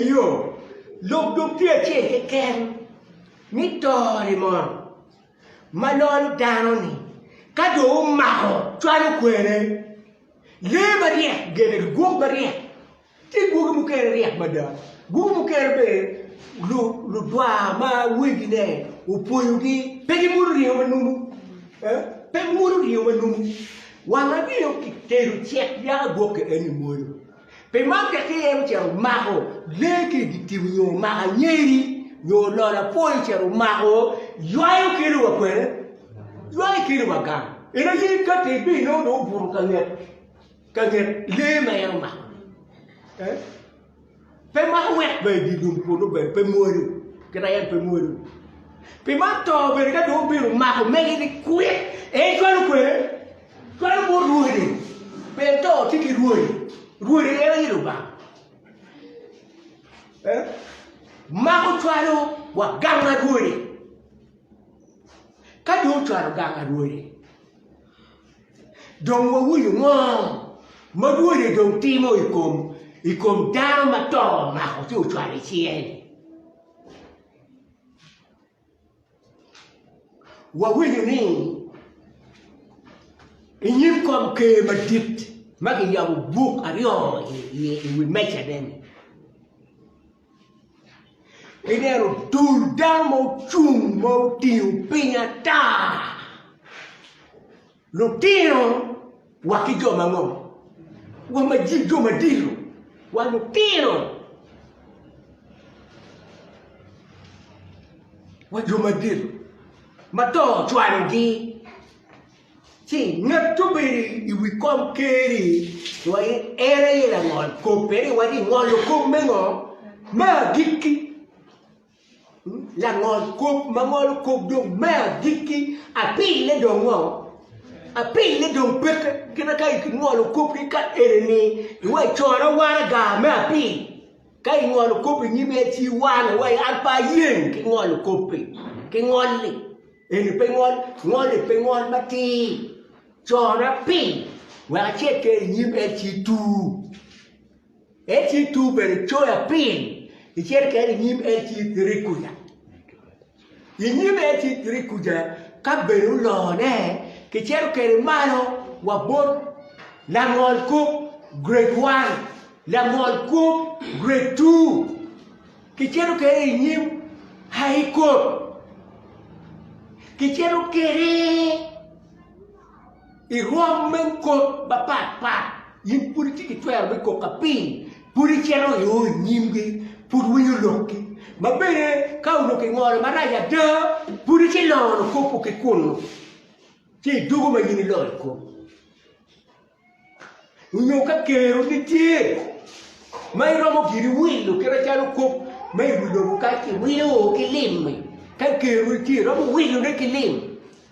Eyo, lok dong tye acel keken, ni to-ri mono, ma lolo dano-ni ka dong omako cwalo kwene. Lee maryek gene ki gwok maryek, ci gwoki mukene ryek mada, gwoki mukene bene ludwa ma wegine opwoyogi pe gibuto ringo ma numu, pe gibuto ringo ma numu. Wanga ringo kitedo cek yaka gwokke en-ni mwodo. Pi man tek ki iye ocito omako lee ki i dye tim nyo omako anyeri nyo ololo apwoyo ocito omako ywayo kelo wa kwene, ywayo kelo wa gang. En aye ka te ibino nongo dong obuto ka nget ka nget lee ma en omako ni. Pe mako wek ber i dye lum kunu bene pe mwonyo kit aye en pe mwonyo. Pi man to bene ka dong obino omako mege ni kwit en cwalo kwene. Twero bot rwodi, pien to tye ki rwodi, rwodi en aye Lubanga. Eh? Mako cwalo wa ganga rwodi. Ka dong cwalo ganga rwodi, dong wawinyo ngo ma rwodi dong timo i kom i kom dano ma to omako ci ocwalo i cinge-ni. Wawinyo ni i nyim kom ker madit ma kiyabo buk aryo iye i wi mejane-ni, ineno dul dano ma ocung ma otingo piny ata. Lutino wa ki jo ma ngo? Wa ma jil jo ma dilo wa lutino wa jo ma dilo ma to cwalo gi ci ngat obedo i wi kom keri wa en aye langol kop peri wa ni ngolo kop me ngo? Me agikki. Langol kop ma ngolo kop dong me agikki, apille dong ngo? Apille dong peke kite ka ingolo kop ki ka eni ni iwe coro waraga me apil. Ka ingolo kop inyim en ci iwano wa an pe ayeng ki ngolo koppi, ki ngolli. Eni pe ngol, ngolli pe ngol matir. Coro apil wek acekke inyim en ci itur. LC2 bene coyo apiny icel keken i nyim LC3 kuca. I nyim LC3 kuca ka bene olone, kicito kede malo wa bot langol kub grade 1, langol kub grade 2, kicito kede i nyim High Court, kicito kede I rwom me kop mapat pat, in pud itye ki twero me kok ka piny pud icito i o i nyimgi, pud winyo lokgi. Ma bene ka onongo kingolo marac ada, pud icito ilongo kop-pu ki kunnu, ci idwogo ma in ilongo i kom. Onyo ka kero nitye ma iromo giri wilo kite calo kop ma i wi lobo ka kiwilo ki lim-mi, ka kero-ni tye iromo wilone ki lim,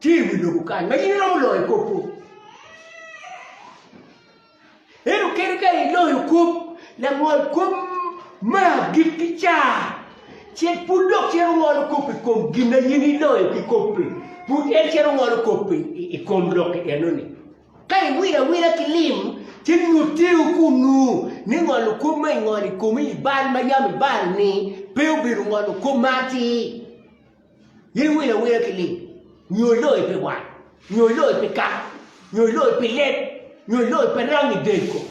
Tye i wi lobo kany ma in iromo loyo kop-pu. Ento kadi ka iloyo kop, langol kop ma agik ki car cen pud dok cito ngolo kop i kom gin ma in iloyo ki kop-pi, pud en cito ngolo kop i kom lok enoni. Ka iwilo awila ki lim, ci nyutiwu kunnu ni ngolo kop ma ingolo i komi i bal ma yam ibalo-ni pe obedo ngolo kop ma atir. In iwilo awila ki lim, nyo iloyo pi wat, nyo iloyo pi kaka, nyo iloyo pi leb, nyo iloyo pi rangi del kom.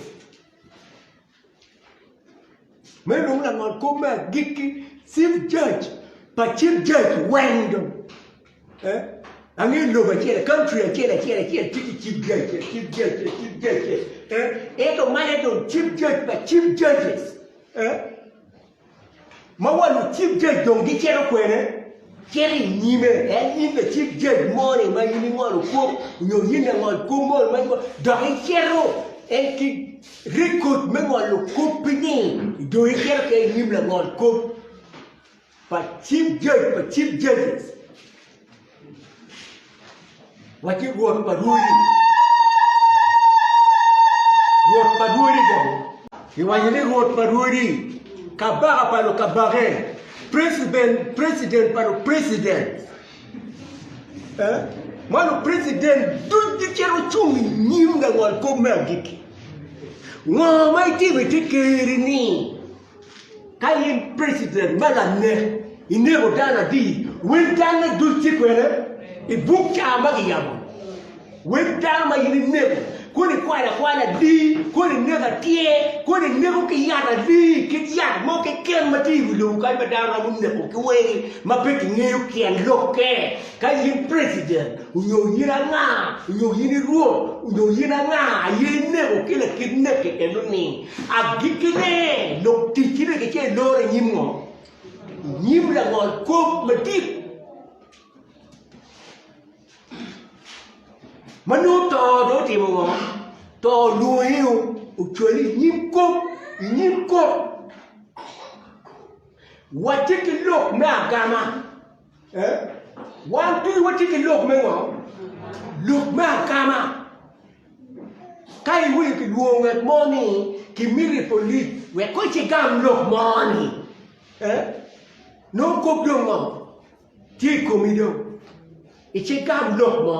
Meno dong langon kop me agikki, Chief Judge pa Chief Judge weng dong. Eh? Angeyo lobo acel, country acel acel acel tye ki Chief Judge, Chief Judge, Chief Judge. Eh? Ento mene dong Chief Judge pa Chief Judges. Eh? Ma wa lucik gec dong gicito kwene? Cit i nyime, en in lacik gec moni ma in ingolo kop, nyo in langol kop moni ma ingolo, dok icito en ki rekod me ngolo koppi-ni, dong icito ki i nyim langol kop pa cip gec, pa cip gec. Watye Rwot pa rwodi, Rwot pa rwodi bene. Kiwaco ni Rwot pa rwodi, Kabaka pa lukabake, President pa lupresident. Eh? Ma lupresident duc gicito cung i nyim langol kop me agikki. Ngo ma itimo i te keri-ni? Ka in president me lanek, ineko dano adi? Wel danne duc tye kwene i buk ca ma giyabo? Wel dano ma in ineko, kodi ikwalo akwala adi? Kodi ineko atyer? Kodi ineko ki yat adi? Kit yat mo keken ma tye i wi lobo kany ma dano romo neko ki wegi ma pe kingeyo tyen lokke? Ka in president onyo in anga onyo in i rwot onyo in anga aye inego ki lakit nek keken ni agiki ne lok ticci nek ice iloro i nyim ngo? I nyim langol kop madit ma nongo to do otimo ngo? To olwongi o ocwali i nyim kop i nyim kot wacce ki lok me agama. Wan dul watye ki lok me ngo? Lok me akama. Ka iwinyo ki lwong ngat mo ni ki miri polis wek ko ci gam lok mo ni, nongo kop dong ngo? Tye i komi dong. Ice gam lok mo.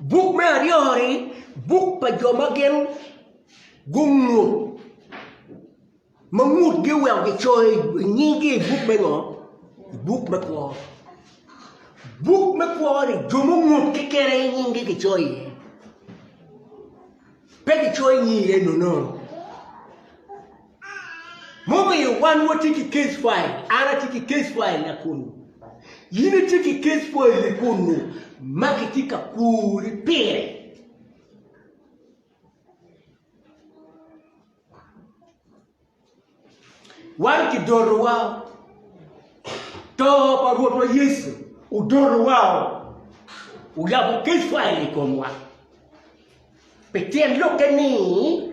Buk me aryo-ni buk pa jo ma gin gungu ma ngutgi oweko gicoyo nyinggi i buk me ngo? I buk me kwo. Buk me kwo-ni jo mungut keken aye nyinggi kicoyo iye. Pe kicoyo nyingi iye nono. Mumiyo wan watye ki case file, an atye ki case file na kunu, in itye ki case file-ni kunu ma kitye ka kuri pire. Wan kidoro wa, to pa Rwotwa Yecu odoro wa, oyabo case file i komwa. Pi tyen lokke ni,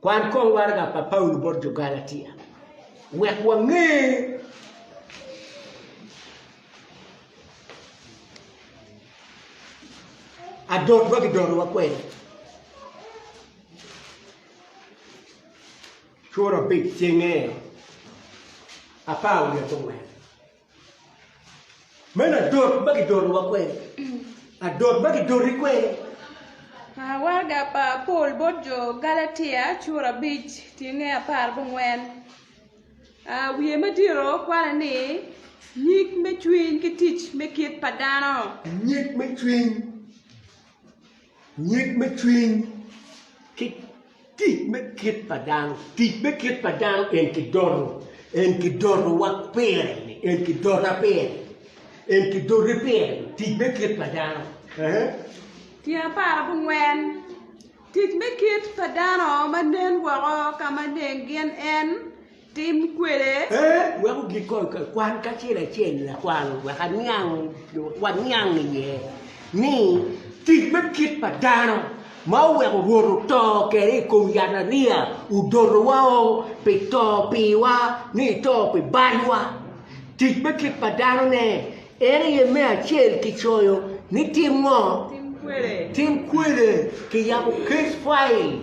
Kwan kong waraga pa Paulo bot jo Galatia wek wange. Adot ma gidotowa kwede. Cura abic cenge apar wiye ki angwen. Meno adot ma gidotowa kwene. Adot ma gidoti kwene. Warga pa Paul bot jo Galatia cura abic tyenge apar gungwen wiye me diro kwane ni Nyig me cwiny ki tic me kit pa dano. Nyig me cwiny. Nyig me cwiny ki tic me kit pa dano. Tic me kit pa dano en kidoto, en kidotowa pire-ni, en kidota pire-ni, en kidoti pire-ni, tic me kit pa dano. Ehe. Tyen apar abongwen, Tic me kit pa dano ma nen woko ka ma neng gin en, Tim kwede. E wek ogik kong ka kwan kacel acel lakwal wek aniang, wek waniang iye ni tic me kit pa dano ma oweko Rwot oto kede i kom yatariya odoto wa o pi to piwa ni ito pi balwa. Tic me kit pa dano ne en aye me acel ki coyo ni tim ngo? Tim kwede. Tim kwede ki yabo case file.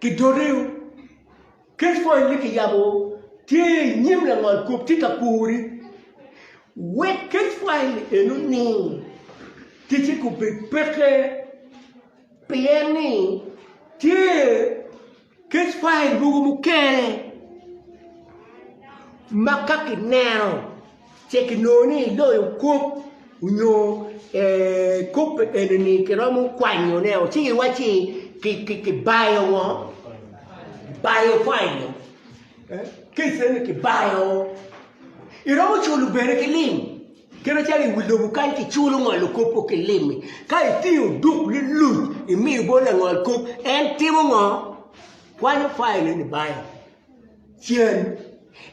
ki dotiwu. Kec pwony ni kiyabo tye i nyim langol kop tye ka pori wek kec pwony en oning ticce gubed peke pien ni tye kec pwony mogo mukene ma ka kineno Ce kinongo ni iloyo kop onyo kop enini kiromo kwanyo ne o ci iwaci kibayo ngo kibayo kwanyo kece ni kibayo ngo iromo culo bene ki lim kit macalo iwi lobo kany kiculo ngolo kop o ki lim ka itingo duk liluc imiyo bot langol kop en timo ngo kwanyo kwanyo neni bayo. cen.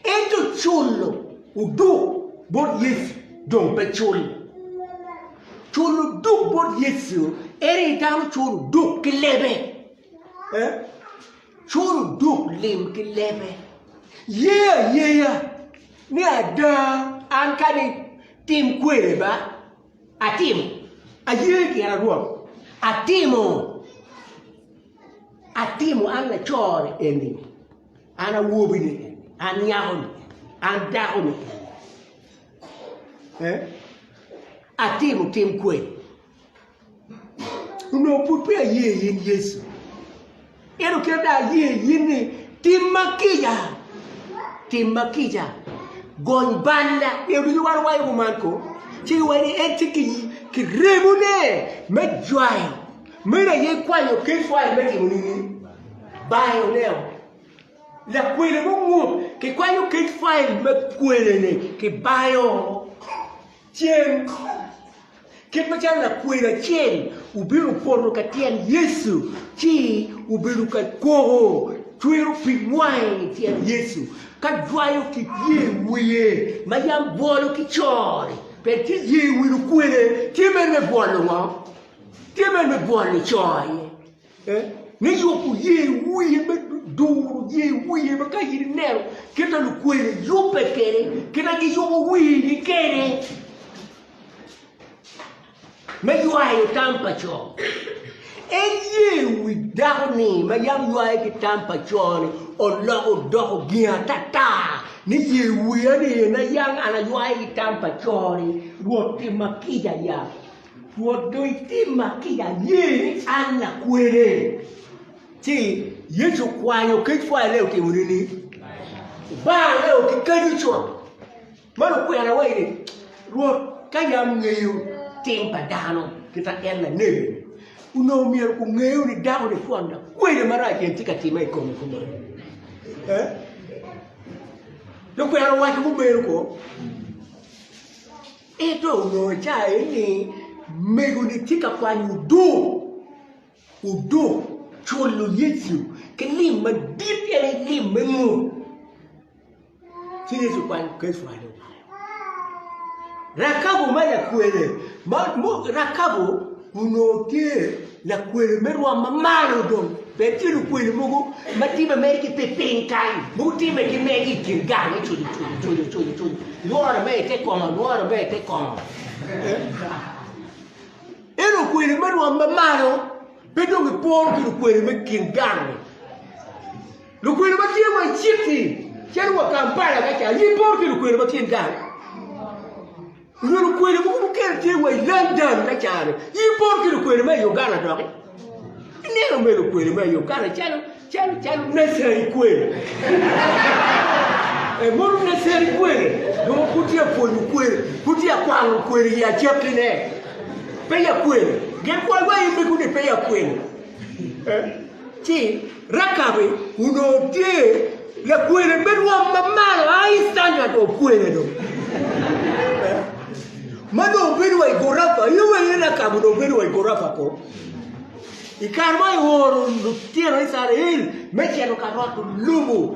Ento culo oduk bot Yecu dong pe cul. Culo oduk bot Yecu en aye dano culo oduk ki lebe. Culo oduk lim ki lebe. Ye ayeya ni ada an kadi tim kwede ba atimo, aye gin arwot atimo. Atimo, an lacone eni, an awobini eni, an nyakoni eni, an dakoni eni, atimo tim kweni. Onongo pud pe aye i in Yecu. Ento kit ma aye i in ni tim ma kica, tim ma kica, gony balla. Nge ducu wan wayo kuman ko, ci giwaco ni en tye ki remone me jwayo. Meno aye kwanyo Keifai me timo nini? Bayo oneo lakwena mo mut, kikwanyo Keifai me kwene-ni ki bayo cen. Kit macalo lakwena acel obino poto ka tyen Yecu ci obedo ka koko cwero pi wange i tyen Yecu, ka jwayo ki ye wiye ma yam bwolo ki cor-ri, pien ki ye wi lukwene tye mere me bwolo ngo? Tye ber me bwol nico aye me yubo ye wiye me duro ye wiye ma ka in ineno kita lukwene yubbe kene kita giyubo wini kene me ywayo tam pa co en ye wi dako ni ma yam ywaye ki tam pa co ni oloko doko gin atata ni ye wiya ni na yam an aywaye ki tam pa co ni rwot timma kica ya Rwot dong itimma kit aye ni an lakwene. Ci Yecu okwanyo kec pwaya leo timone ni, Obanga leo ki kadi con. Man okwena wa ni, Rwot, ka yam ngeyo tim pa dano kita en lanege, onongo myero kungeyo ni dako ni twon lakwene marac en tye ka time i kome kuman. Eh? Dong kwena owaco mumeno ko. Ento onongo ca eni megoni tye ka kwanyo odoo, odoo cwolo Yecu ki lim madit pien en lim me mot. Ci Yecu okwanyo Kefa ni obayo. Rakabu ma lakwene, Rakabu Onongo tye lakwena me rwom ma malo dong bene tye lukwena mogo ma tye ma meri ki pi piny kany ma gutimme ki megi i kin gang me cojo cojo cojo cojo cojo lworo me ite kongo lworo me ite kongo en lukwena me rwom ma malo pe dong iporo ki lukwena me kin gang lukwena ma tye wa i city calo wa Kampala ka ca aye iporo ki lukwena ma kin gang Nyo lukwena mogo mukene tye wa i London ka caro-ni. In ipor ki lukwena ma i Uganda doki? Ineno me lukwena ma i Uganda calo calo calo necessary kwena. Eh, mono necessary kwena. Dong pud tye apwony lukwena, pud tye akwano lukwena i acakkine. Peya kwena. Gen kwai wa in bene kuni peya kwena. Eh? ci Rekabi onongo tye lakwene me rwom ma malo a i Cana dong okwene dong ma dong obedo wa i gurafa aye wa iye Rekabi onongo obedo wa i gurafa ko i kare ma eoro lutino Icrael me cito ka rwato lobo